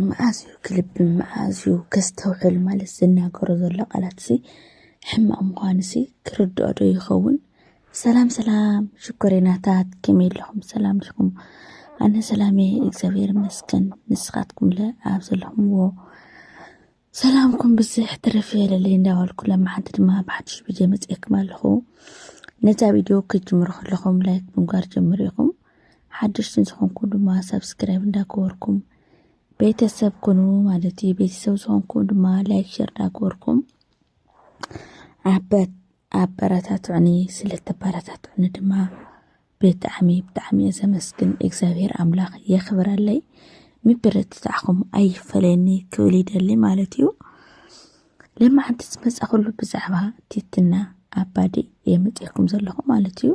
መዓዝ እዩ ክልቢ መዓዝ እዩ ከስተውዕል ማለት ዝናገሮ ዘሎ ቃላት ሲ ሕማቕ ምዃኑ ሲ ክርድኦ ዶ ይኸውን? ሰላም ሰላም ሽኮሬናታት ከመይ ኣለኹም? ሰላም ዲኹም? ኣነ ሰላም እየ እግዚኣብሔር ይመስገን። ንስኻትኩምለ ኣብ ዘለኹምዎ ሰላምኩም ብዝሕ ትርፍ የለለይ እንዳበልኩ ለማሓንቲ ድማ ብሓድሽ ቪድዮ መፅኤኩም ኣለኹ ነዛ ቪድዮ ክትጅምሩ ከለኹም ላይክ ብምግባር ጀምሩ ኢኹም ሓደሽቲ ዝኾንኩም ድማ ሰብስክራይብ እንዳገበርኩም ቤተሰብ ኩኑ ማለት እዩ። ቤተሰብ ዝኾንኩም ድማ ላይክ ሸር እንዳገበርኩም ዓበት ኣበረታትዑኒ ስለ ተበረታትዑኒ ድማ ብጣዕሚ ብጣዕሚ እየ ዘመስግን እግዚኣብሔር ኣምላኽ የኽብረለይ ምብርትታዕኹም ኣይፈለየኒ ክብል ይደሊ ማለት እዩ ለማዓንቲ ዝመፃኹሉ ብዛዕባ ቲትና ኣባዲ እየ መፅኤኩም ዘለኹ ማለት እዩ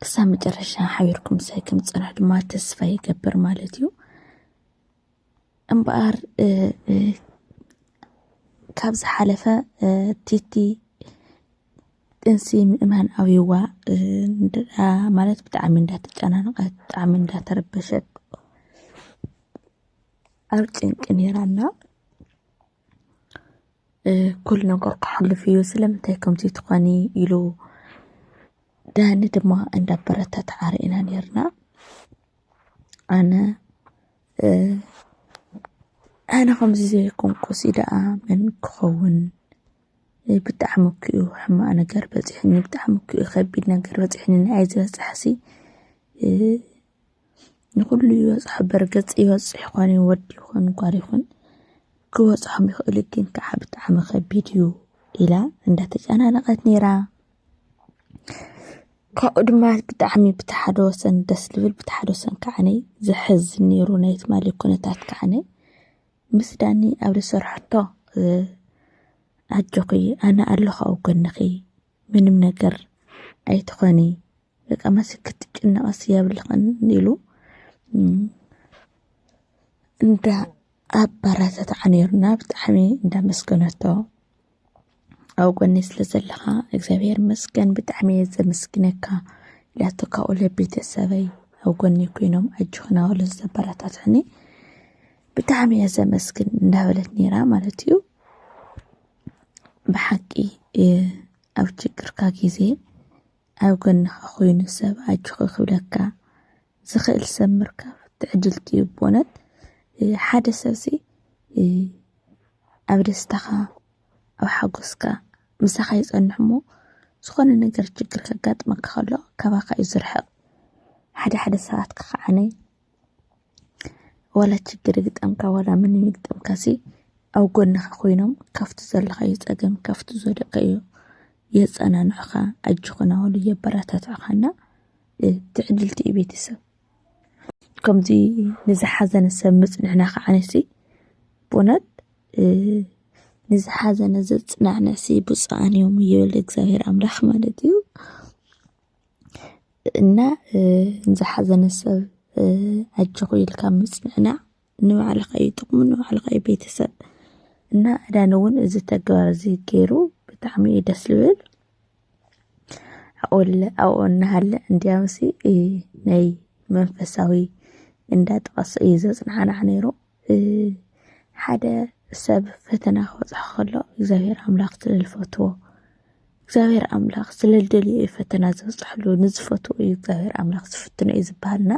ክሳብ መጨረሻ ሓቢርኩም ሳይ ከም ፅንሕ ድማ ተስፋ ይገብር ማለት እዩ እምበኣር ካብ ዝሓለፈ ቲቲ ጥንሲ ምእማን ኣብይዋ ማለት ብጣዕሚ እንዳተጨናነቐት ብጣዕሚ እንዳተረበሸት ኣብ ጭንቂ ነይራ እና ኩሉ ነገር ክሓልፍ እዩ ስለምንታይ ከምዚ ትኾኒ ኢሉ ዳኒ ድማ እንዳበረታትዓ ርኢና ኔርና። ኣነ ኣነ ከምዚ ዘይኮንኩስ ደኣ መን ክኸውን ብጣዕሚ እኮ እዩ ሕማቕ ነገር በፂሑኒ ብጣዕሚ እኮ እዩ ከቢድ ነገር በፂሑኒ ንዓይ ዝበፅሐሲ ንኹሉ ይበፅሖ በርገፅ ይበፅሕ ይኾን እዩ ወዲ ይኹን ጓል ይኹን ክበፅሖም ይኽእሉ ግን ከዓ ብጣዕሚ ከቢድ እዩ ኢላ እንዳተጨናነቐት ነይራ ካብኡ ድማ ብጣዕሚ ብቲ ሓደ ወሰን ደስ ልብል ብቲ ሓደ ወሰን ከዓነ ዘሕዝን ነይሩ ናይ ትማሊ ኩነታት ከዓነ ምስ ዳኒ ኣብ ዝሰርሐቶ ኣጆኺ ኣነ ኣለኹ ኣብ ጎንኺ ምንም ነገር ኣይትኾኒ በቃ መሲ ክትጭነቐስ የብልኽን ኢሉ እንዳ ኣበረታትዓ ነይሩና ብጣዕሚ እንዳመስገነቶ ኣብ ጎኒ ስለ ዘለኻ እግዚኣብሔር መስገን ብጣዕሚ እየ ዘመስግነካ ኢላቶ ካብኡ ለቤተሰበይ ኣብ ጎኒ ኮይኖም ኣጆኽና በሉ ዘበረታትዕኒ ብጣዕሚ እየ ዘመስግን እንዳበለት ነይራ ማለት እዩ ብሓቂ ኣብ ችግርካ ግዜ ኣብ ጎንኻ ኮይኑ ሰብ ኣጆኺ ክብለካ ዝኽእል ሰብ ምርካብ ትዕድልቲ እዩ ብእውነት ሓደ ሰብሲ ኣብ ደስታኻ ኣብ ሓጎስካ ምሳኻ ይጸንሕ እሞ ዝኾነ ነገር ችግር ከጋጥመካ ከሎ ካባኻ እዩ ዝርሕቕ ሓደ ሓደ ሰባት ክኸዓነ ዋላ ችግር ይግጠምካ ዋላ ምን ይግጠምካሲ ኣብ ጎንኻ ኮይኖም ካብቲ ዘለኻዮ ፀገም ካብቲ ዝወደቀዮ የፀናንዑኻ ኣጆኻ ናበሉ የበረታትዑኻና ትዕድልቲ እዩ ቤተሰብ ከምዚ ንዝሓዘነ ሰብ ምፅንዕና ከዓ ነሲ ብእውነት ንዝሓዘነ ዘፅናዕንዕሲ ብፁዓን እዮም ይብል እግዚኣብሔር ኣምላኽ ማለት እዩ። እና ንዝሓዘነ ሰብ ኣጆኹ ኢልካ ምጽንናዕ ንባዕልኻ እዩ ጥቕሙ ንባዕልኻ እዩ ቤተሰብ እና ዕዳን እውን እዚ ተግባር እዚ ገይሩ ብጣዕሚ እዩ ደስ ዝብል ኣብኡለ ኣብኡ እናሃለ እንዲያውሲ ናይ መንፈሳዊ እንዳጠቐሰ እዩ ዘጽናዕናዕ ነይሩ ሓደ ሰብ ፈተና ክበፅሖ ከሎ እግዚኣብሔር ኣምላክ ስለዝፈትዎ እግዚኣብሔር ኣምላክ ስለዝደልዮ እዩ ፈተና ዝበፅሐሉ ንዝፈትዎ እዩ እግዚኣብሔር ኣምላክ ዝፍትኖ እዩ ዝበሃል እና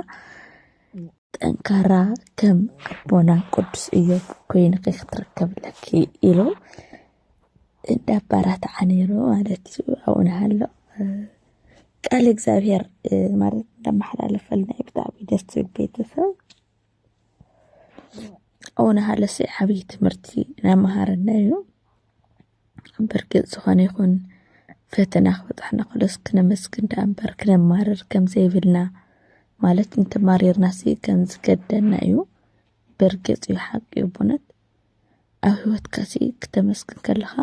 ጠንካራ ከም ኣቦና ቅዱስ እዮብ ኮይንኺ ክትርከብ ኣለኪ ኢሉ እንዳባራትዓ ነይሩ ማለት እዩ ኣብኡ ንሃሎ ቃል እግዚኣብሔር ማለት እንዳመሓላለፈልና እዩ ብጣዕሚ ደስ ዝብል ቤተሰብ ኣቡነ ሃለሰ ዓብዪ ትምህርቲ እናመሃረና እዩ። ብርግፅ ዝኾነ ይኹን ፈተና ክበፅሓና ከሎስ ክነመስግን ደኣ እምበር ክነማርር ከም ዘይብልና ማለት እንተማሪርናሲ ከም ዝገደና እዩ። ብርግፅ እዩ ሓቂ እዩ ኣቦነት ኣብ ህይወትካሲ ክተመስግን ከለኻ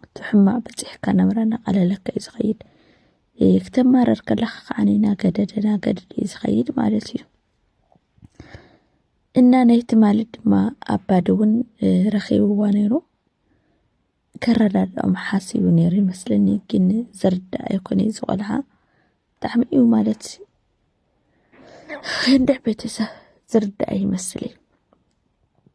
እቲ ሕማቕ በፂሕካ ነብራ እናቐለለካ እዩ ዝኸይድ ክተማረር ከለካ ከዓ ናገደደ ናገደደ እዩ ዝኸይድ ማለት እዩ እና ናይ ትማሊ ድማ ኣባዲ እውን ረኺብዋ ነይሩ ከረዳድኦም ሓሲቡ ነይሩ ይመስለኒ ግን ዝርዳእ ኣይኮነ እዩ ዝቆልዓ ብጣዕሚ እዩ ማለት እንድዕ ቤተሰብ ዝርዳእ ይመስል እዩ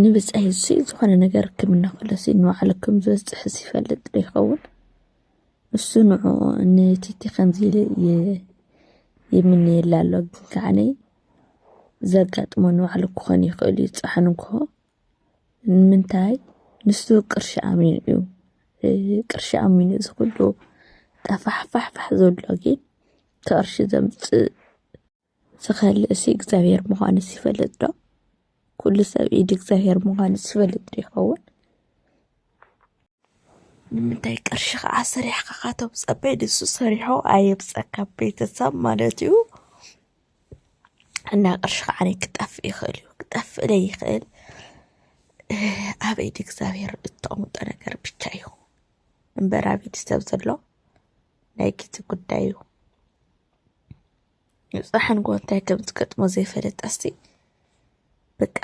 ንብጻይ እዚ ዝኾነ ነገር ክም እናኸለሲ ንባዕሉ ክም ዝበጽሕስ ይፈልጥ ዶ ይኸውን? ንሱ ንዑ ንቲቲ ከምዚ ይምነየላ ኣሎ ግን ከዓነ ዘጋጥሞ ንባዕሉ ክኾን ይኽእል እዩ ጻሕኑ እንኮ ንምንታይ ንሱ ቅርሺ ኣሚኑ እዩ ቅርሺ ኣሚኑ እዚ ኩሉ ጠፋሕፋሕፋሕ ዘሎ ግን ከቕርሺ ዘምጽእ ዝኸልእሲ እግዚኣብሔር ምዃንስ ይፈልጥ ዶ? ኩሉ ሰብ ኢድ እግዚኣብሔር ምዃንስ ይፈልጥ ዶ ይኸውን? ንምንታይ ቅርሺ ከዓ ስሪሕካ ካቶም ፀበይ ንሱ ሰሪሖ ኣየብፀካ ቤተሰብ ማለት እዩ እና ቅርሺ ከዓ ክጠፍእ ይኽእል እዩ ክጠፍእ ለይኽእል ኣብ ኢድ እግዚኣብሔር እተቐምጦ ነገር ብቻ እዩ እምበር ኣብ ኢድ ሰብ ዘሎ ናይ ጊዜ ጉዳይ እዩ ንጽሓንጎ እንታይ ከም ዝገጥሞ ዘይፈለጣስቲ በቃ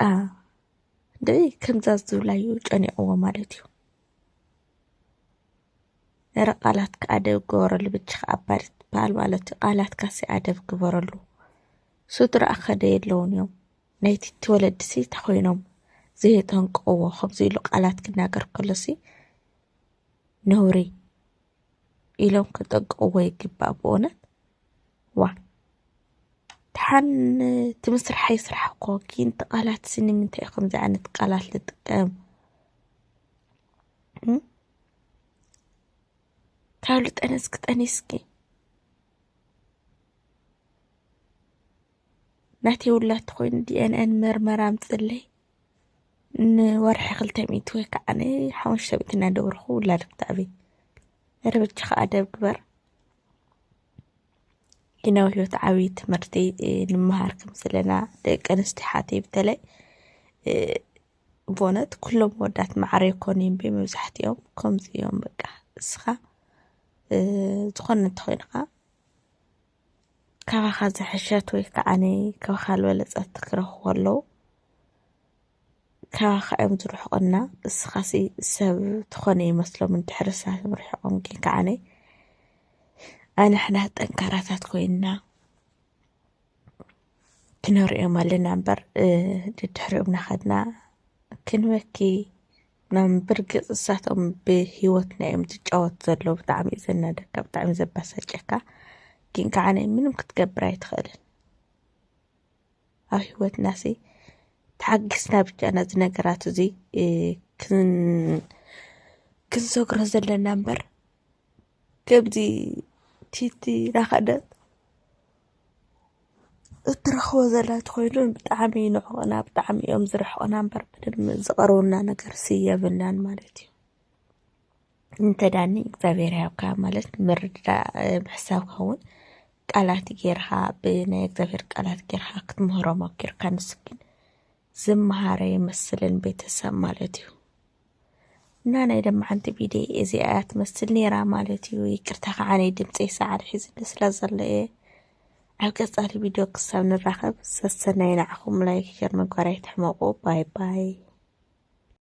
ደይ ከምዛ ዝብላዩ ጨኒቕዎ ማለት እዩ ነረ ቃላትካ ኣደብ ግበረሉ ብቻኻ ኣባሪ ትበሃል ማለት እዩ ቃላትካ ሲ ኣደብ ግበረሉ ስድራ ኣኸደ የለውን እዮም ናይቲ እትወለዲ ሲ ተኮይኖም ዘየጠንቀዎ ከምዚ ኢሉ ቃላት ክናገር ከሎሲ ነውሪ ኢሎም ክጠንቀቕዎ ይግባእ ብእውነት ዋ ድሓን እቲ ምስራሕ ይስራሕ እኮ ግን እቲ ቃላት ስኒ ምንታይ ከምዚ ዓይነት ቃላት ልጥቀም ካብ ልጠነስ ክጠኒስኪ ናተይ ውላድ ኮይኑ ዲኤንኤን ምርመራ ኣምፅለይ ንወርሒ ክልተ ሚእቲ ወይ ከዓ ሓሙሽተ ሚእቲ እናደበርኩ ውላድ ክተዕቢ ርብች ከዓ ደብ ግበር ግናዊ ህይወት ዓብዪ ትምህርቲ ንምሃር ከም ዘለና ደቂ ኣንስትዮ ሓተይ በተለይ ብእውነት ኩሎም ወዳት ማዕረ ይኮኑ እዮም መብዛሕትኦም ከምዚ እዮም በቃ እስኻ ዝኾነ እንተኾይንኻ ካባኻ ዝሐሸት ወይ ከዓ ካባኻ ዝበለፀት ክረኽቡ ከለዉ ካባኻ እዮም ዝርሕቑና እስኻሲ ሰብ ትኾነ ይመስሎም እንድሕር ሳት ምርሕቖም ግን ከዓ ኣንሕና ጠንካራታት ኮይንና ክንሪኦም ኣለና እምበር ድድሕሪኦም ናኸድና ክንበኪ ናብ ብርግጽ እሳቶም ብሂወትና እዮም ዝጫወት ዘለዉ ብጣዕሚ እዩ ዘናደካ ብጣዕሚ ዘባሳጨካ ግን ከዓ ናይ ምንም ክትገብር ኣይትኽእልን ኣብ ሂወትና ሲ ተሓጊስና ብቻ ነዚ ነገራት እዚ ክንሰግሮ ዘለና እምበር ከምዚ ቲቲ ናኸደት እትረኽቦ ዘላ ተኾይኑ ብጣዕሚ ይንዕቑና ብጣዕሚ እዮም ዝርሕቑና እምበር ምንም ዝቐርቡና ነገርሲ የብልናን ማለት እዩ እንተዳኒ እግዚኣብሔር ያብካ ማለት ምርድዳእ ምሕሳብካ እውን ቃላት ጌርካ ብናይ እግዚኣብሔር ቃላት ጌርካ ክትምህሮ ሞኪርካ ንሱ ግን ዝመሃረ ይመስልን ቤተሰብ ማለት እዩ እና ናይ ለማዓንቲ ቢዴ እዚኣ እያ ትመስል ነይራ ማለት እዩ። ይቅርታ ከዓ ናይ ድምፀይ ሰዓሪ ሒዝኒ ስለ ዘሎ እየ። ኣብ ቀፃሊ ቪድዮ ክሳብ ንራኸብ ሰሰናይ ንዓኹም ላይክ ሸር ምግባር ኣይትሕመቁ ባይ ባይ